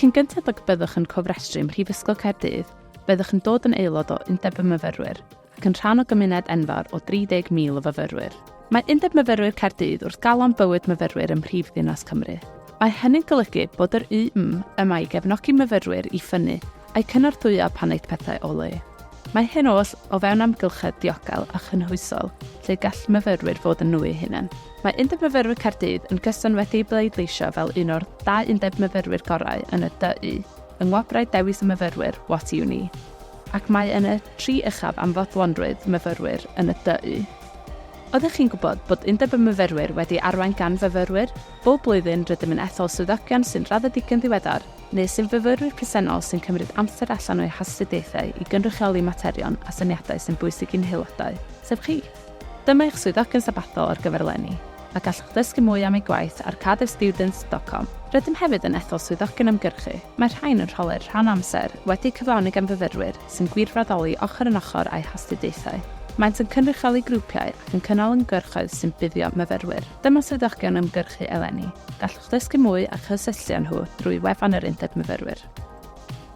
Cyn gynted ag y byddwch yn cofrestru ym Mhrifysgol Caerdydd, byddwch yn dod yn aelod o Undeb y Myfyrwyr ac yn rhan o gymuned enfawr o 30,000 o fyfyrwyr. Mae Undeb Myfyrwyr Caerdydd wrth galon bywyd myfyrwyr ym mhrif ddinas Cymru. Mae hynny'n golygu bod yr UM yma i gefnogi myfyrwyr i ffynnu a'u cynorthwyo pan aeth pethau o le. Mae hyn oll o fewn amgylchedd diogel a chynhwysol lle gall myfyrwyr fod yn nhw eu hunain. Mae Undeb Myfyrwyr Caerdydd yn gyson wedi'i bleidleisio fel un o'r dau undeb myfyrwyr gorau yn y DU yng Ngwobrau Dewis y Myfyrwyr What Uni? ac mae yn y tri uchaf am fodlonrwydd myfyrwyr yn y DU. Oeddech chi'n gwybod bod Undeb y Myfyrwyr wedi arwain gan fyfyrwyr? Bob blwyddyn rydym yn ethol swyddogion sy'n raddedigion ddiweddar neu sy'n fyfyrwyr presennol sy'n cymryd amser allan o'u hastudiaethau i gynrychioli materion a syniadau sy'n bwysig i'n haelodau, sef chi. Dyma eich swyddogion sabathol ar gyfer eleni, a gallwch ddysgu mwy am eu gwaith ar cardiffstudents.com. Rydym hefyd yn ethol swyddogion ymgyrchu, mae'r rhain yn rholau'r rhan amser wedi'u cyflawni gan fyfyrwyr sy'n gwirfoddoli ochr yn ochr â'u hastudiaethau. Maent yn cynrychioli grwpiau ac yn cynnal ymgyrchoedd sy'n buddio myfyrwyr. Dyma swyddogion ymgyrchu eleni, gallwch ddysgu mwy a chysylltu â nhw drwy wefan yr Undeb Myfyrwyr.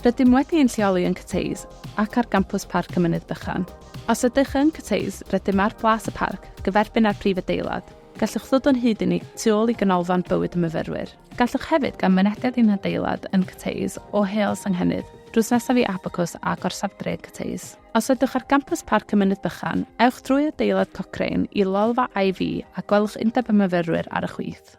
Rydym wedi ein lleoli yn Cathays ac ar gampws Parc y Mynydd Bychan. Os ydych yn cwteis, rydym ar Blas y Parc, gyferbyn â'r prif adeilad. Gallwch ddod o'n hyd i ni tu ôl i Ganolfan Bywyd y Myfyrwyr. Gallwch hefyd gael mynediad i'n hadeilad yn Cwteis o Heol Senghennydd, drws nesaf i Abacws a Gorsaf Dref Cwteis. Os ydwch ar gampws Parc y Mynydd Bychan, ewch drwy adeilad Cochrane i lolfa AV a gwelwch Undeb y Myfyrwyr ar y chwith.